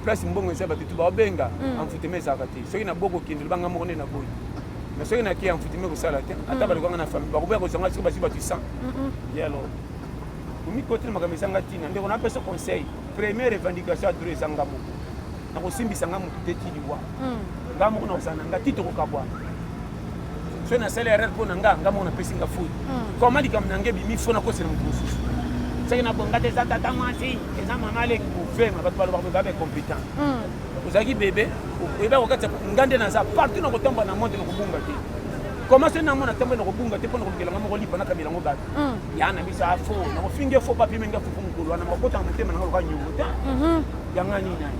place mbongo eza bato tu baobenga envoutema ezalaka te soki na bokokende lobanga moko nde na boyi mais soki naki ya mfutimi kosala te ata mm. balukanga na famille bakoboya kozwa ngai soki bazwi bato 100 ye alors omikoteli makambo ezanga ntina ndeko napesa conseil première revendication ya dro eza nga moko nakosimbisa nga motu te ti liwa mm. nga moko nakozala na nga ti tokokabwana soki nasali erreur mpo na nga nga moko napesi nga fouille mm. koma likambo na nga ebimi fo nakosela motu mosusu soki nabonga te eza tata mwasi eza mama aleki kovema bato balobaka babe competent ozalaki bebe oyeba kokatisa nga nde naza partout na kotambola na monde na kobunga te koma soki namona ntango na kobunga te mpo na kolukela nga moko lipa nakabela yango bato mm. ya na biso afo ah, nakofinge fo papi menge fufu mokolo wana makota na motema nanga loka nyongo te mhm. yanga nini nani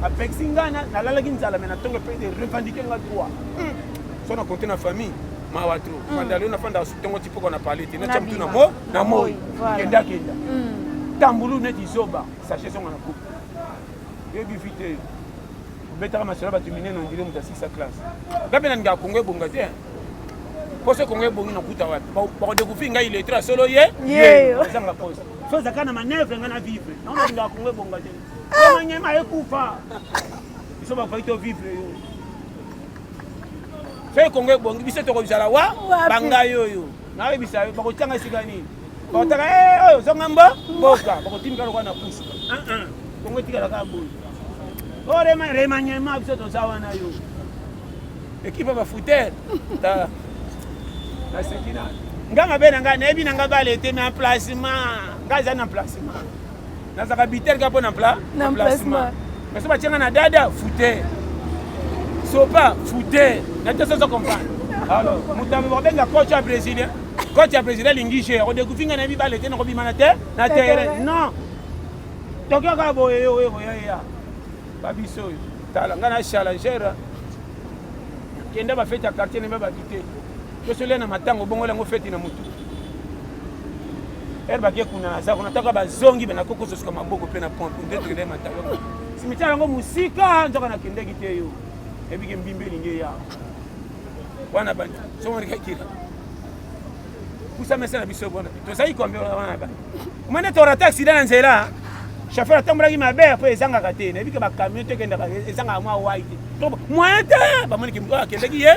apekisi ngai nalalaki nzala me na ntongo mpe de revendike nga droit mm. so na konte na famille mawa tro mm. fanda leo nafanda ntongo ti mpoko na pale te natya motu na moi kendakenda tambulu neti zoba sache songa na kuku yo bifi te obetaka masolo bato minene ondire moto asikisa classe nga mpe nalinga kongo ebonga te poso kongo ebongi nakuta wapi bakodekouvrir ngai letre ya solo ye ezanga poso so ozaka na manevre ngai na vivre yango nalinga kongo ebonga te omanyema ekufa biso bakoki to vivre yo soki kongo ebongi biso tokozala wa bangai oyo nayebisa yo bakotyanga esika nini bakotaka eh, oyo zonga mbo mboka bakotimika lokola na pusu ah, ah. kongo etikalaka boye o oh, remaniema biso toza wana yo ekipe ya bafutere tala naseki na nga mabe na ngai nayebi na ngai balete me emplacement ngai eza na emplacement nazalaka bitel kaka mpo na placement mais so batyanga na dada fute sopa fute na te soso comprendre alors moto yango bakobenga coach ya brésilien coach ya brésilien alingi je akodekufi ngai na mibale te nakobima na te na terrain non tokio kaka boye yo oyekoyaya babiso oyo tala ngai na challenger kenda bafeti ya quartier nebe babite tosolia na matango bongola yango feti na motu ere bake kuna naza kuna taka bazongi me nakoki kososuka maboko mpe na pompe nde tokende matalo simitiare yango mosika nzoka nakendeki te yo ebike mbimba elingi eya wana bani somonikakira kusa mese na biso bona tozali kombe wana bani omoni torata aksida na nzela chauffeur atambolaki mabe mpo ezangaka te nayebi ke bacamion te ekendaka ezangaka mwa wai te moyen te bamoni akendeki ye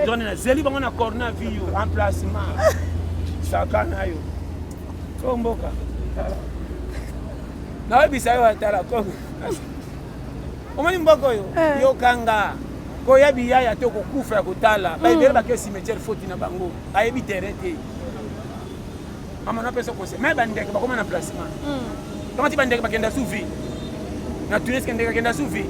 donc nazeli bango na corna vi yo emplacement saka na yo o mboka nayebisa yo atala kongo omoni mboka oyo eh. yokanga koya biyaya te okokufa ya kotala baebele hmm. bake cimetiere foti na bango ayebi terrain te Mama na pesa conseil. Mais ba ndeke bakoma na placement. Mm. Kama ti ba ndeke bakenda sous vie. Na Tunis kende kenda sous vie.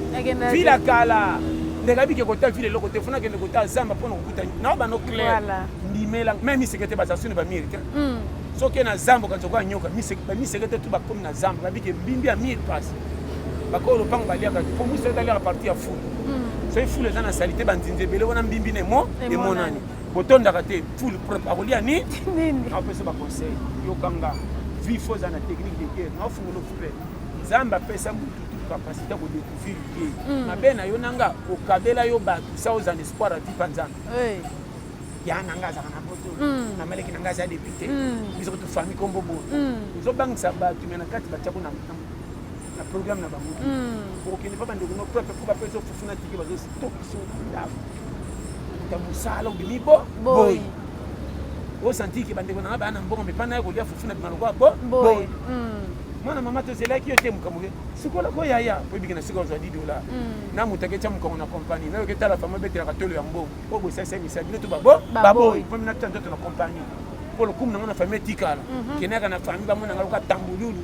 Ville à Kala. Ndeke abike kota ville loko te funa kende kota zamba pona kokuta. Na ba no clair. Voilà. Ndimela même mi sekete ba sasune ba mérite. Mm. Soki na zamba kanzo kwa nyoka mi sekete ba mi sekete tu ba komi na zamba ba bike mbimbi ya mille passe. Bakolo lopango baliaka po musa etaliaka parti ya fulu. Mm. Soki fulu eza na salite banzinzi ebele wana mbimbi na emo emonani. botondaka te full prep akolia ni nini apesa ba conseil yokanga vie faut na technique de guerre na fungola ouvert nzambe apesa mutu tout capacité ko découvrir ye hmm. mabe na yo nanga okabela yo bato sa oza na espoir avi pa nzambe ya na nga azaka na poto hmm. na maleki na nga aza député hmm. biso kutu famille kombo boye ozobangisa bato me na kati batyako na na programme na bango okokende pa bandeko no pepe mpo bapesa fufu na tike bazotokisa ndako ta mosala obimi bo boyi osanti ke bandeko na nga baya na mbongo mepa naye kolia fufu na bima lokola bo boyi mwana mama tozelaki yo te mokambo ke sikola ko yaya mpo ebiki na sika ozwa di dola na moto aketya mokongo na kompani nayoki etala fama ebetelaka tolo ya mbongo oyo bosalisa misala bino to babo baboyi mpo mina tya nzoto na kompani mpo lokumu na nga na fami etikala kenaka na fami bamona nga lokola tambululu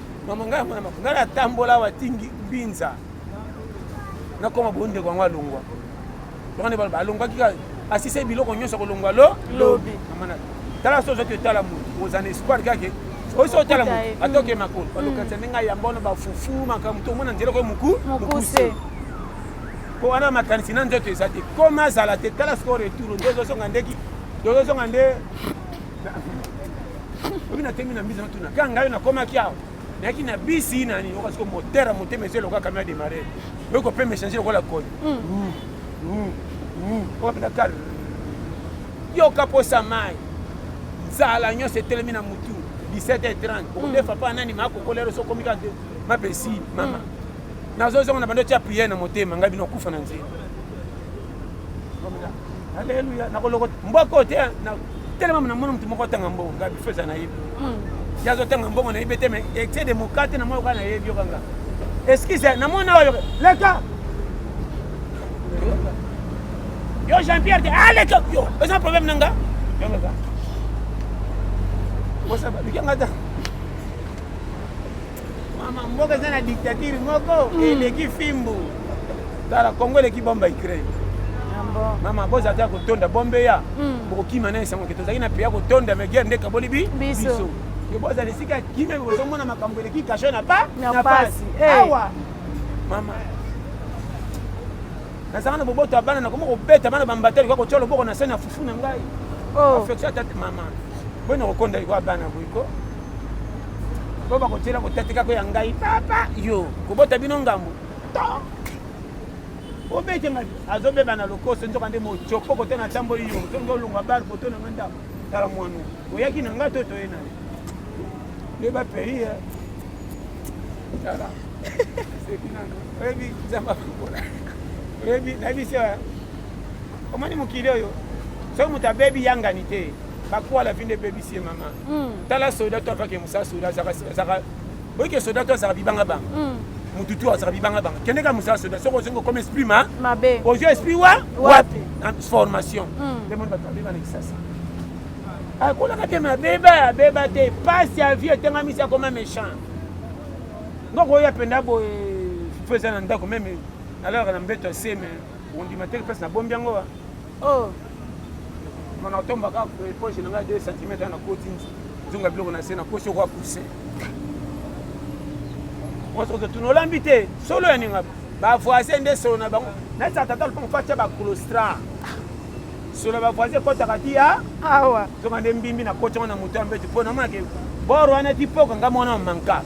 Mama ngai mwana mako ngai natambola awa tingi mbinza nakoma bondeko yango alongwa tokande baloba alongwaki kaka asise biloko nyonso akolongwa lo lobi tala so ozwaki otala motu oza na espoir kaka oyo so otala motu atoke makolo balokatisa ndenge ayamba wana bafufu makambo to omona nzela koyo moku mokuse mpo wana makanisi na nzoto eza te koma azala te tala sikoyo retour nde ozozonga ndeki ozozonga nde obi na temi na mbisi na tuna kanga yo nakomaki awa nayaki na bisi nani oka siko motere ya motema esi eloka kamio ya demare oyo kope mechange lokola koni oka mpena kal yoka mposa mai nzala nyonso etelemi na motu 17h30 okodefa mpa nani makokolero so okomi kaka mapesi mama nazozonga na bando tya priere na motema ngai bino okufa na nzela aleluya nakoloko mboko te telema na mona moto moko atanga mbongo nga bifo eza nayebi hmm. ye azotanga mbongo nayebi te mais excès de mokate na mwa yoka nayebi yoka nga excuse na mona oyo leka yo jean pierre te aleka ah, yo eza problème na nga yongaka osaba lika nga ta Mama mboka eza na dictature moko mm. eleki fimbu. Tala Congo eleki bomba Ukraine. Ah Mama boza ata kotonda bombe ya. Mm. Bokokima na esango ke tozali na pia kotonda me guerre nde kaboli bi. Biso. Ke boza lisika kimia bozo mona makambo eleki kasho na ba na pasi. Eh. Awa. Mama nazanga na boboto ya bana nakoma kobeta bana bambatali kwa kotya loboko na se na fufu na ngai oh. affection ya tata mama boye nakokonda likwa bana boyiko po bakotiela kotatika ko ya ngai papa yo kobota bino ngambo obete ngai azobeba na lokoso nzoka nde mocoko kote na tamboli yo zongi olongwa bale poto na ngai ndako tala mwanu oyaki na ngai to toye na nde bapei eh. tala oyebi nzambe akokola oyebi nayebisi eh. omoni mokili oyo soki moto abebi yangani te bakwala vi nde ebebisi ye mama hmm. tala soda to afake mosala soda azaka oyike soda to azaka bibanga banga hmm. motu tu azaka bibanga banga kendeka mosala soda soki ozongi okoma esprit ma mabe ozwi esprit wa wapi formation nde moni bato babeba na kisasa akolaka te mabeba abeba te pasi ya vie etengamisi akoma méchant ngoko oyo apenda boye fo eza na ndako meme nalalaka na mbeto ya seme ondima te place nabombi yango wa Oh. Mon atom baka poche na nga 2 cm na koti nzunga biloko na se na kosi kwa pousser. Osoto tunolambi te solo ya ninga ba voisin nde solo na bango na sa tata lupango fatia ba colostra solo ba voisin kotaka ti ya awa zonga nde mbimbi na koti na moto ya mbeti mpo na maki bor wana ti poka nga mwana manka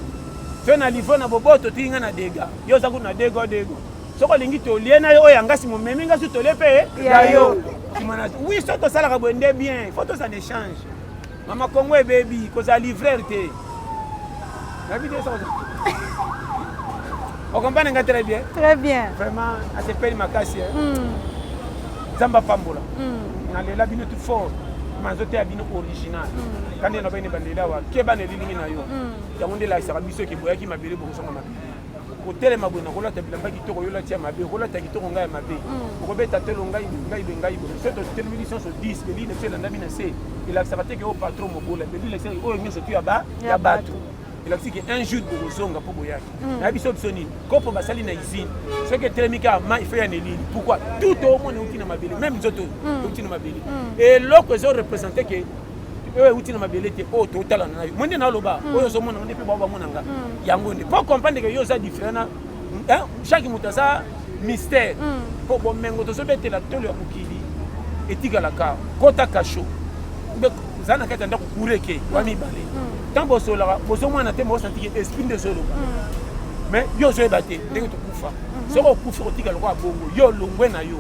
fe na livre na boboto ti nga na dega yo oza kutu na dego dego soki olingi tolie na yo oyo ya ngasi momemi ngasi tolie mpe ya yo wi so tosalaka boye nde bien fo tozana échange mama kongo ebebi kozala livreur te nayebi te soko okompane nga très bien très bien vraiment asepeli makasi hmm. nzambe apambola hmm. nalela bino tout fort manzoteya bino original hmm. kandi elobaki ne bandeli awa keba na elilingi na yo yango nde elakisaka biso eke boyaki mabele bokosonga mabele kotelema boye nakolata bilamba kitoko yo olati ya mabe okolata kitoko ngai ya mabe mm. okobeta telo ngai ngai be ngai boye so totelemi biso nyonso 10 belile mpe elandami na se elakisaka te ke oyo patron mobola belile elakisaka oyo nyonso tu ya bato elakisi ke un jour bokozonga mpo boyaki mm. nayebi so biso nini kopo basali na usine soki etelemi kaka mai fo ya nelili pourkui tout omona euti na mabele meme nzoto euti mm. na mabele eloko ezo represente ke oyo euti na mabele te oyo totalana na yo mo nde naloba hmm. oyo ozomona nde mpe bao bamona nga hmm. yango nde po comprendre ke yo oza différent na chaque moto aza mystère mpo hmm. bomengo tozobetela tolo ya mokili etikalaka kota kasho oza na kati ya ndako kureke wa mibale ntango bosolaka bozomwana te bosantiki esprit nde ezoloba mais yo ozoyeba te ndenge tokufa soki okufi kotika lokola bongo yo olongwe na yo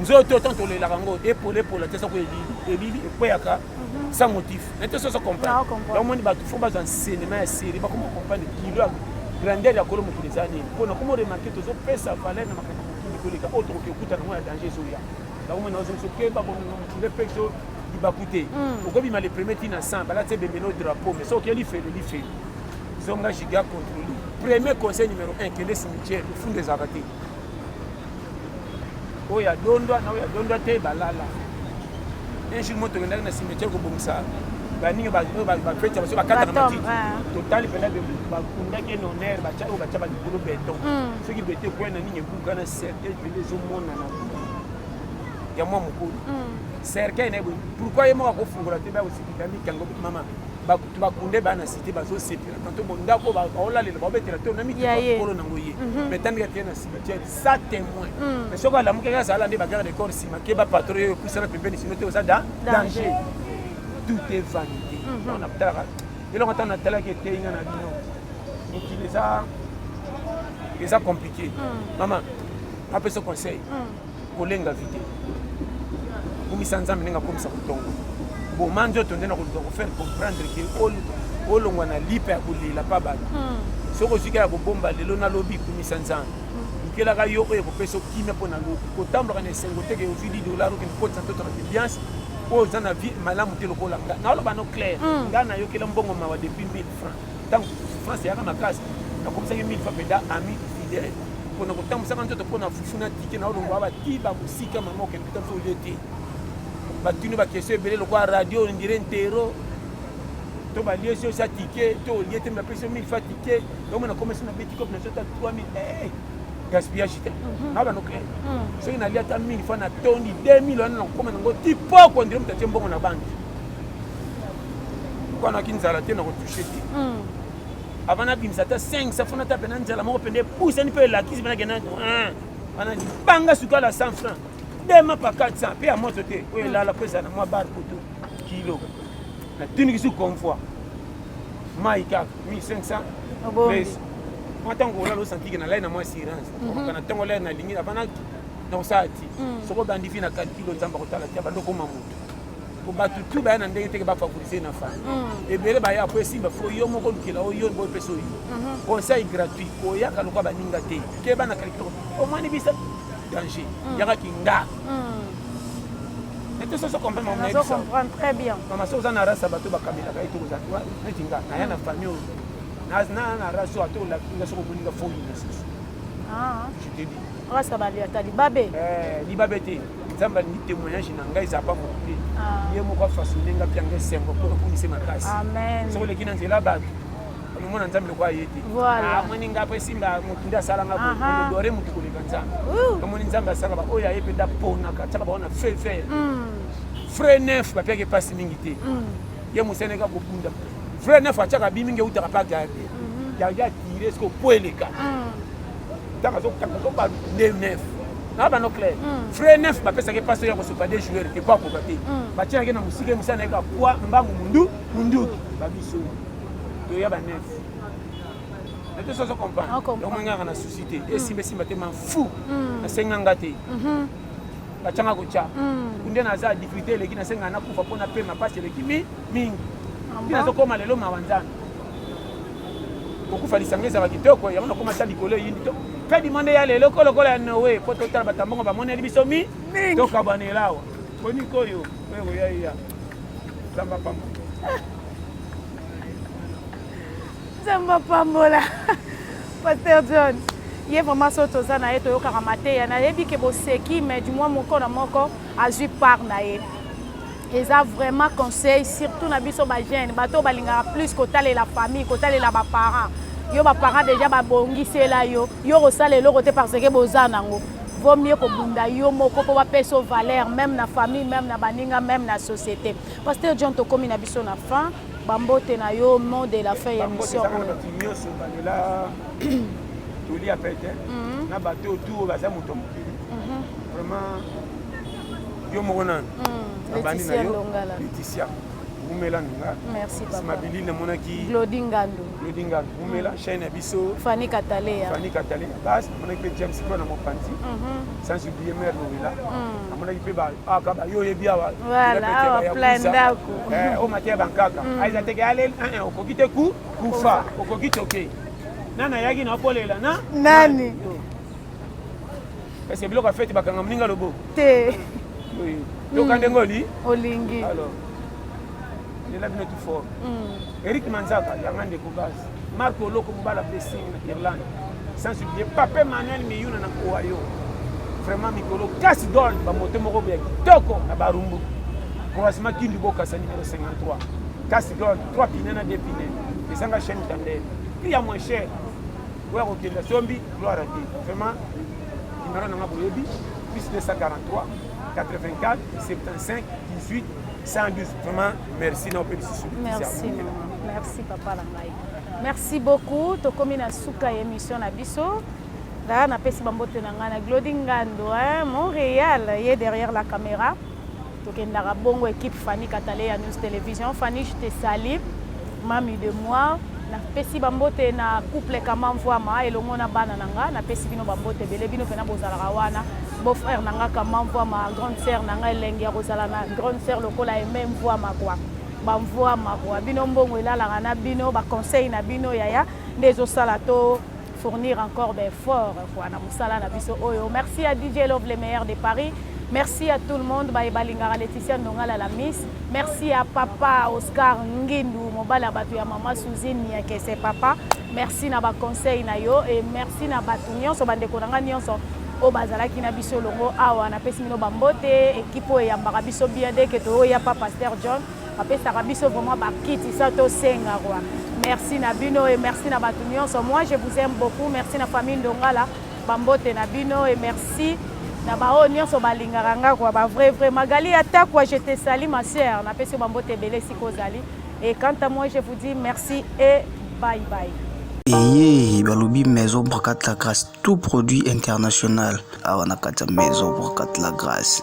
nzoto tant tolelaka yango epola epola te soko elili ekweyaka mhm. sans motif na te soso comprendre omoni bato fo bazwa nsenema ya série bakoma comprendre kilo grandeur ya kolo mokili eza nini mpo nakoma remarke tozopesa valeur na makambo mokili koleka oyo tokoki okuta nango ya danger ezoya nakomona ozongisa okeba bongo mokili mpe ezo libaku te hmm. okobima le premier ti na 100 balati ebemelo drapeau mais soki elifeli lifeli zonga giga controli premier conseil numéro 1 kende cimetière ofunda ezalaka te oyo ya dondwa na oyo ya dondwa te balala un jour moto tokendaki na cimetière kobongisa baninga bafeti ya baso bakata na matiti totali mpena bakundaki ye na honneur batya oyo batya balikolo beton soki beton ekwei na nini ebuka na cercueil mpende ezomonana ya mwa mokolo cercueil na ye boye pourkoi ye moko akofungola te bakosikita mikango mama bakunde bana site bazosepela to bondako baolalela baobetela to na mituka kolo nango ye mhm. mais tandika kee na cimetière sa témoin mhm. mais soki alamukaki azala nde bagarde de corps nsima ke bapatro yo epusana pembeni sino te oza da danger tout est vanité mhm. on atalaka eloko ntango natalaki eteyi nga na bino mokili eza eza compliqué mama apesa conseil kolenga vide kumisa nzambe ndenge akomisa kotongo boma nzoto nde na koluka kofaire comprendre ke olongwa na lipa ya kolela mpa bato hmm. soki ozwika ya kobomba lelo nalobi kumisa nzambe lukelaka yo oyo ekopesa okimia mpo na lobi kotambolaka na esengo te ke ozwi 10 dollar okende kotisa ntoto na bibiance oyo oza na vie malamu te lokola nga naoloba no claire hmm. nga nayokela mbongo mawa depuis 1000 francs ntango france eyaka makasi nakomisaki mille fois mpeda ami fidèle mpo na kotambwisaka nzoto mpo na fufu na tike na olongwa batiba mosika mama okende kuta mpe olie te batuni bakestion ebele lokola radio ondire ntero to balie si osa tike to olie te bapesi yo mille fois tike yango nakomisi na beti kope na sota 3000 eh, gaspillage te mhm. na banoke mhm. soki nalia ata mille fois na tondi 2000 wana nakokoma nango tipoko ondire moto atie mbongo na banki kwanaki nzala te na kotouche te hmm. avant nabimisa ata 5 safona ta pena nzala moko pende epusani mpe elakisi pena kena wana libanga sukala 100 franc dema pa 400 mpe ya moto te oyo elala mpo ezala na mwa bar kutu kilo natinikisi convoi mai kaka 1500 mwa ntango olala osantike nalai na mwa assurance mhm. kana ntango olai nalingi avana nakosala ti hmm. soko obandi vi na kalkilo nzambe akotala ti abandi okoma moto po bato tu baya na ndenge teke bafavorise na fami mm. ebele baya po esimba fo yo moko olukela oyo boye mpe soyi mhm. conseil gratuit koyaka lokola baninga te keba na kalikilo omoni bisa danger mm. yaka kinga ete soso comprendre mama nayebisa très bien mama so oza na rasa bato bakamelaka ye tokoza neti nga naya na famille oyo na na rasa oyo ata olakinga soko omoninga fo yina soso ah. je te dis rasa balia tali babe eh, libabe te nzambe alingi témoignage na ngai eza bango te ah. ye moko afasone nga mpe anga esengo mpo nakumisi makasi soki oleki na nzela bato omona nzambe lokola ye te amoni ah, nga mpe esimba motu nde asala nga odore motu koleka nzambe omoni nzambe asala baoyo aye mpe ndaponaka tiaka bango na feu vert mm. frais neuf bapiaki mpasi mingi te mm. ye moseneka kobunda frais neuf atiaka bi mingi eutaka mpa garde garde atire soki opo eleka mm. ntango azokanga ko ba de neuf na bano clair mm. frais neuf bapesaki paso ya kosopa de joueur te po akoka te mm. batiaki na mosika mosala na ye ka poi mbangu mundu munduki babiso toya ba neuf ete soso comprendre ah, donc mangaka na souci te mm. esimba esimba te man fou nasenga nga te mm-hmm. batianga kotya kunde naza difficulté eleki nasenga nakufa mpo napema mpasi eleki mingi ah, ntina azokoma lelo mawa nzambe kokufa lisanga ezalaka kitoko yango nakoma ata likolo eyindi to kadi monde ya lelo ko lokola ya noe mpo totala bato ya mbongo bamoneli biso mi tokabwanela awa bonikoyo oyo koyaiya nzambe apambola nzambe apambola paster john ye vraiment soki toza na ye toyokaka mateya nayebi ke boseki mais du moins moko na moko azwi part na ye eza vraiment conseil surtout na biso ba jeune bato oyo balingaka plus kotalela famille kotalela ba parents yo ba parents deja babongisela yo yo kosala eloko te parce que boza nango vaut mieux kobunda yo moko mpo bapesa yo valeur même na famille même na baninga même na société pasteur john tokomi na biso na fin bambote na yo mot de la fin ya émission oyo nyonso balela toli ya pete na bato oyo tu oyo baza moto ya mokili vraiment yo moko nani hmm, nabandi na yo leticia wumela nanga nsima bilili namonaki glodi ngandu glodi ngandu wumela hmm. chaine ya biso fani katalea fani katalea base namonaki mpe james mpo na mopanzi mhm. sans oublier mare lowela hmm. namonaki mpe aka ah, bayo oyebi awa o mateya bankaka aiza teke ale eh, eh, okoki te ku kufa okoki toke nani ayaki na okolela na nani Est-ce que biloko ya fete bakanga moninga lobo? Te. Oui. Yoka ndenge oli? Olingi. Alors. Lela bino tout fort. Mm. Eric Manzaka, yanga ndeko base. Marco Loko mobala blessing na Irlande. Sans oublier Pape Manuel Miyuna na Ohio. Vraiment mikolo kasi dol ba moto moko boya kitoko na barumbu. Croisement Kindu Bokasa numéro 53. Kasi dol 3 pines na 2 pines. Ezanga chaîne tandem. Prix ya moins cher. oya kokenda sombi gloire te vraiment nimero nanga boyebi plus 243 84 75 18 112 vraiment merci na ope lisusu merci merci papa na ngai merci beaucoup tokomi na suka ya émission na biso ngaa napesi bambote na ngai na glodi ngando montréal ye derrière la caméra tokendaka bongo equipe Fanny Kataleya News Television Fanny je te salue mami de moi napesi bambote na couple kama mvwama elongo na bana na nga napesi bino bambote ebele bino mpena bozalaka wana beau-frère na nga kama mvwama grande sœur na nga elengi ya kozala na grande sœur lokola eme mvwama kwa bamvwama kwa bino mbongo elalaka na bino baconseil na bino yaya nde ezosala to fournir encore ba effort quoi na musala na biso oyo merci à DJ Love le meilleur de Paris merci à tout le monde baye balingaka Laetitia Ndongala la miss merci à papa Oscar Ngindu mobali ya bato ya mama Suzine Niakese papa merci na ba conseil na yo et merci na bato nyonso bandeko na ngai nyonso oyo bazalaki na biso elongo awa napesi bino bambote ekipe oyo eyambaka biso bien deke toyoya pa pasteur john bapesaka biso vraiment bakiti sa tosenga kwa merci na bino e merci na bato nyonso moi je vous aime beaucoup merci na famille ndongala bambote na bino e merci na baoyo nyonso balingaka nga kwa bavrai vrai magali atakwa je te sali ma sœur napesi yo bambote ebele esika ozali e quant à moi je vous dis merci e bye bye eye balobi maison brocate la grâce tout produit international awa na kati ya maison brocate la grâce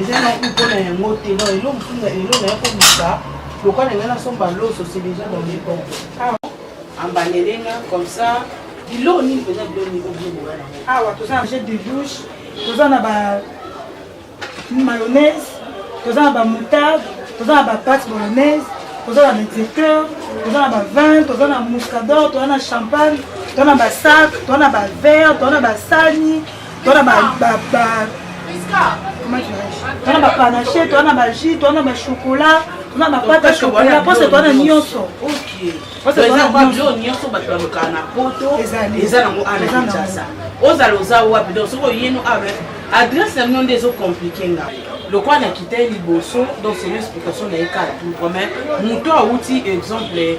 eza na ku mpona yango te no elo mosusu na elo na ya kobisa lokola na ngai nasomba loso se deja dans les bon ambanele nga comme ça biloko nini mpenza biloko nini obiebola na awa toza na jet de douche toza na ba mayonnaise toza na ba moutarde toza na ba pate bolonnaise toza na baexecteur toza na ba vin toza na muscador toza na champagne toza na basac toza na bavere toza na basani twana ba ba ba twana ba panache twana ba jus twana ba chocolat twana ba pate ya chocolat pose twana nyonso nyonso bato balukaka na poto eza nango ana kinshasa ozala oza wapi donc soki oyeno awa adresse na bino nde ezocomplike nga lokola nakitaki liboso donc semi explication na ye kala tout mais moto awuti exemple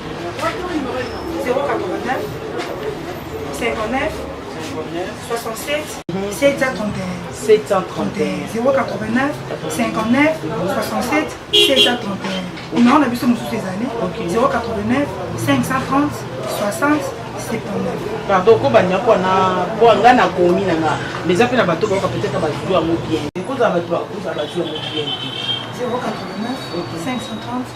na biso mosusu ezali 089 530 60 pardon kobanda mpo na mpo nga nakomi na nga mais eza mpe na bato bayoka peut-être bazwi yango bien ekozala bato bakozala bazwi yango bien te 089 530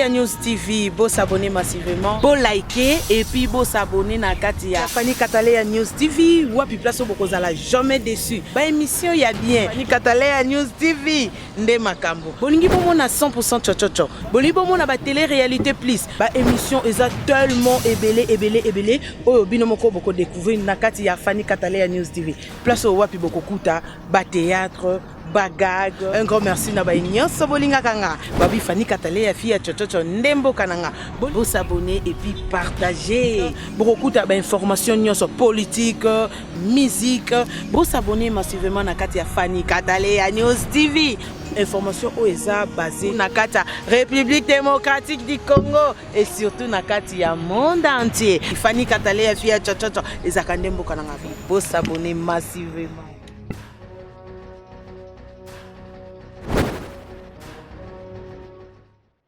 ya News TV, beau s'abonner massivement, beau liker et puis beau s'abonner na kati ya Fanny Kataleya News TV, wapi place au bokozala jamais déçu. Ba émission ya bien. Fanny Kataleya News TV, nde makambo bolingi bomona 100% chochocho bolingi bomona ba télé réalité plus ba émission eza tellement ebele ebele ebele oyo bino moko boko découvrir na kati ya Fanny Katalea News TV place oyo wapi bokokuta ba théâtre bagag un grand merci na baye nyonso bolingaka nga babi Fanny Katalea fille ya chochocho nde mboka na nga bosabone et puis partager bokokuta ba information nyonso politique musique bo s'abonner massivement na kati ya Fanny Kataleya News TV information oyo eza basée na kati ya république démocratique du congo et surtout na kati ya monde entier ifani katale ya fi ya chachacha ezalaka nde mboka na ngai bosabone massivement